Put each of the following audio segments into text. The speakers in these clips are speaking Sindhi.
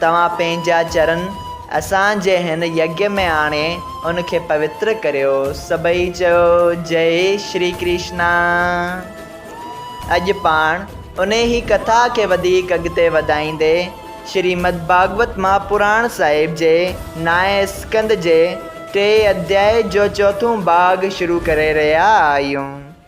توهان پنهنجا چرن اسان جي هن يگيّ ۾ آڻي ان کي پوتر ڪريو. سڀئي چيو، جئي شري ڪرشنا. اڄ پاڻ انهيء ڪٿا کي وڌيڪ اڳتي وڌائيندي شريمد ڀاڳوت مهاپراڻ صاحب جي نائين اسڪند جي ٽئين اڌيائي جو چوٿون ڀاڳ شروع ڪري رهيا آهيون.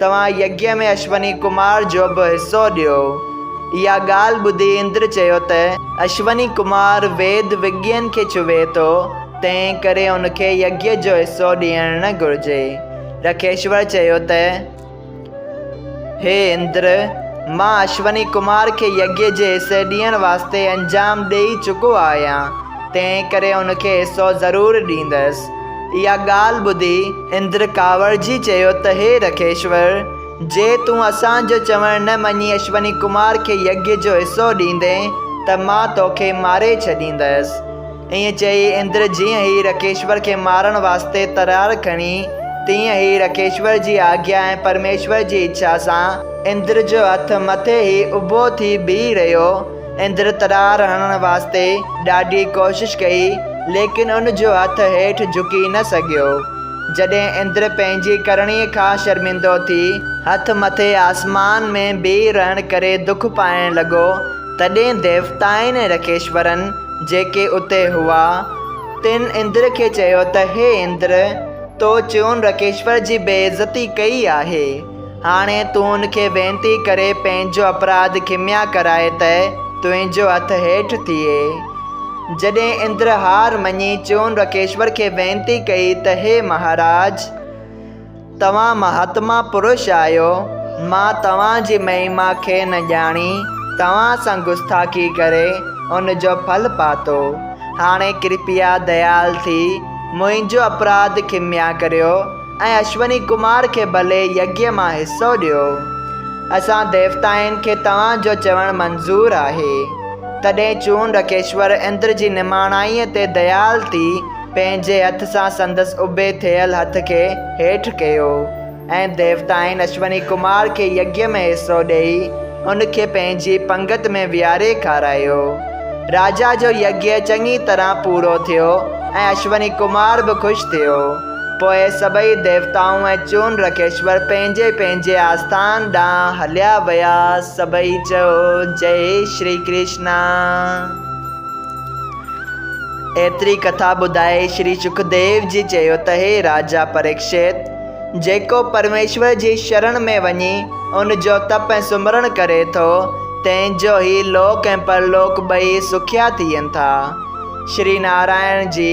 توهان يگيء ۾ اشوني ڪمار جو به حصو ڏيو. اها ڳالهه ٻڌي اندر چيو ته، اشوني ڪمار ويد وڳين کي ڇهي ٿو، تنهن ڪري هن کي يگيء جو حصو ڏيڻ نه گهرجي. رکيشور چيو ته، هي اندر، مان اشوني ڪمار کي يگيء جي حصي ڏيڻ واسطي انجام ڏيئي چڪو آهيان، تنهن ڪري هن کي حصو ضرور ڏيندس. اها ڳالهه ٻڌي اندر ڪاوڙجي چيو ته هي رکيشور! جي تون اسان جو چوڻ نه مڃي اشوني ڪمار کي يگيا جو حصو ڏيندين ته مان توکي ماري ڇڏيندس. ائين چئي اندر جيئن ئي رکيشور کي مارڻ واسطي ترار کڻي تيئن ئي رکيشور جي آگيا ۽ پرميشور جي اڇا سان اندر جو هٿ مٿي ئي اڀو ٿي بيهي رهيو. اندر ترار هڻڻ واسطي ڏاڍي ڪوشش ڪئي، ليڪن ان جو هٿ هيٺ جهڪي نه سگهيو. جڏهن اندر پنهنجي ڪرڻيء کان شرمندو ٿي، هٿ مٿي آسمان ۾ بيهي رهڻ ڪري دک پائڻ لڳو، تڏهن ديوتائن ۽ رڪيشورن، جيڪي اتي هئا، تن اندر کي چيو ته، هي اندر! تو چون رڪيشور جي بي عزتي ڪئي آهي. هاڻي تون ان کي وينتي ڪري پنهنجو اپراڌ کميا ڪرائي ته تنهنجو هٿ هيٺ ٿئي. جڏهن اندر هار مڃي چون رڪيشور کي وينتي ڪئي ته هي مهاراج! توهان مهاتما پرش آهيو، مان توهان جي مهيما کي نه ڄاڻي توهان سان گستاخي ڪري ان جو ڦل پاتو. هاڻي ڪرپيا ديال ٿي منهنجو اپراڌ کميا ڪريو. ۽ اشوني ڪمار کي ڀلي يگيا مان حصو ڏيو. اسان ديوتائن کي توهان جو چوڻ منظور آهي. تڏهن چونڊڪيشور اندر جي نماڻائيء تي ديال ٿي پنهنجي هٿ سان سندس اڀي ٿيل هٿ کي هيٺ ڪيو ۽ ديوتائن اشوني ڪمار کي يگيا ۾ حصو ڏيئي ان کي پنهنجي پنگت ۾ ويهاري کارايو. راجا جو يگيا چڱي طرح پورو ٿيو ۽ اشوني ڪمار به خوش ٿيو. پوء سڀئي ديوتائون ۽ چون رڪيشور پنهنجي پنهنجي آستان ڏانهن هليا ويا. سڀئي چيو، جئي شري ڪرشنا. ايتري ڪٿا ٻڌائي شري شڪديو جي چيو ته هي راجا پريڪشت! جيڪو پرميشور جي شرڻ ۾ وڃي ان جو تپ ۽ سمرڻ ڪري ٿو، تنهن جو هي لوڪ ۽ پرلوڪ ٻئي سکيا ٿين ٿا. شري نارائڻ جي.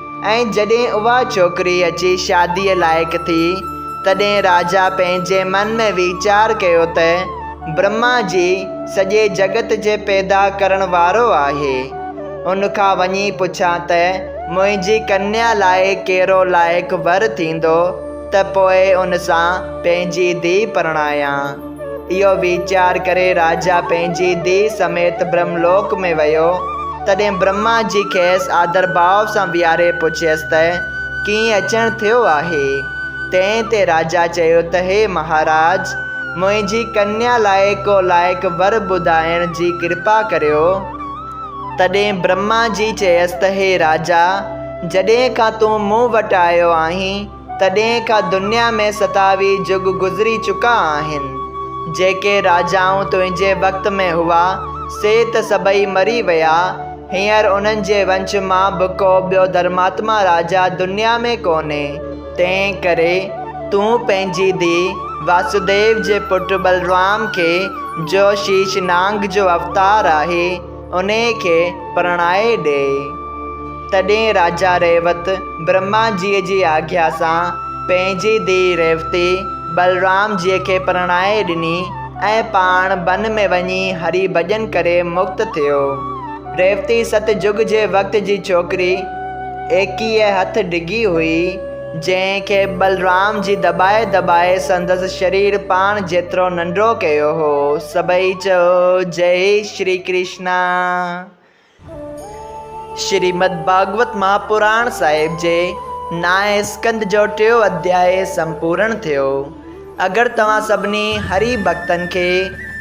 ۽ جڏهن اها ڇوڪري اچي شاديء لائق ٿي، تڏهن راجا پنهنجي من ۾ ويچار ڪيو ته برهما جي سڄي جڳت جي پيدا ڪرڻ وارو آهي، ان کان وڃي پڇان ته منهنجي ڪنيا لاء ڪهڙو لائق ور ٿيندو ته پوء ان سان پنهنجي ڌيء پرڻايان. اهو ويچار ڪري راجا پنهنجي ڌيء سميت برهم لوڪ ۾ ويو. تڏهن برهما جي کيس آڌر ڀاء سان ويهاري پڇيس ته، ڪيئن اچڻ ٿيو آهي؟ تنهن تي راجا چيو ته هي مهاراج! منهنجي ڪنيا لاء ڪو لائق ور ٻڌائڻ جي ڪرپا ڪريو. تڏهن برهما جي چيس ته هي راجا! جڏهن کان تون مون وٽ آيو آهين، تڏهن کان دنيا ۾ ستاوي جڳ گذري چڪا آهن. جيڪي راجائون تنهنجي وقت ۾ هئا، سي ته سڀئي مري ويا. هينئر انهن جي ونش مان به ڪو ٻيو ڌرماتما راجا دنيا ۾ ڪونهي. تنهن ڪري تون پنهنجي ڌيء واسوديو جي پٽ بلرام کي، جو شيش نانگ جو اوتار آهي، انهيء کي پرڻائي ڏئي. تڏهن راجا ريوت برهما جيء جي آگيا سان پنهنجي ڌيء ريوتي بلرام جيء کي پرڻائي ڏني ۽ پاڻ بن ۾ وڃي هري ڀڄن ڪري مڪت ٿيو. ريوتي ست جڳ جي وقت جي ڇوڪري ايڪيء هٿ ڊگهي هئي. جنهن کي بلرام جي دٻائي دٻائي سندس شرير پاڻ جيترو ننڍڙو ڪيو هو. سڀئي چئو جئي شري ڪرشنا. شريمد ڀاڳوت مهاپراڻ صاحب جي نائين اسڪند جو ٽيون اڌيائي سمپورڻ ٿيو. اگر توهان سڀني هري ڀڳتن کي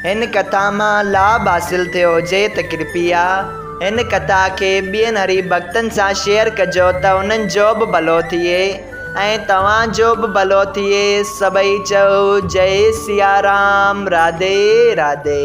هن ڪٿا مان لاڀ حاصل ٿيو هجي ته ڪرپيا هن ڪٿا کي ٻين هري ڀڳتن سان شيئر ڪجو ته انهن جو به ڀلو ٿئي ۽ توهان جو به ڀلو ٿئي سڀئي چئو جئي سيارام راڌي راڌي.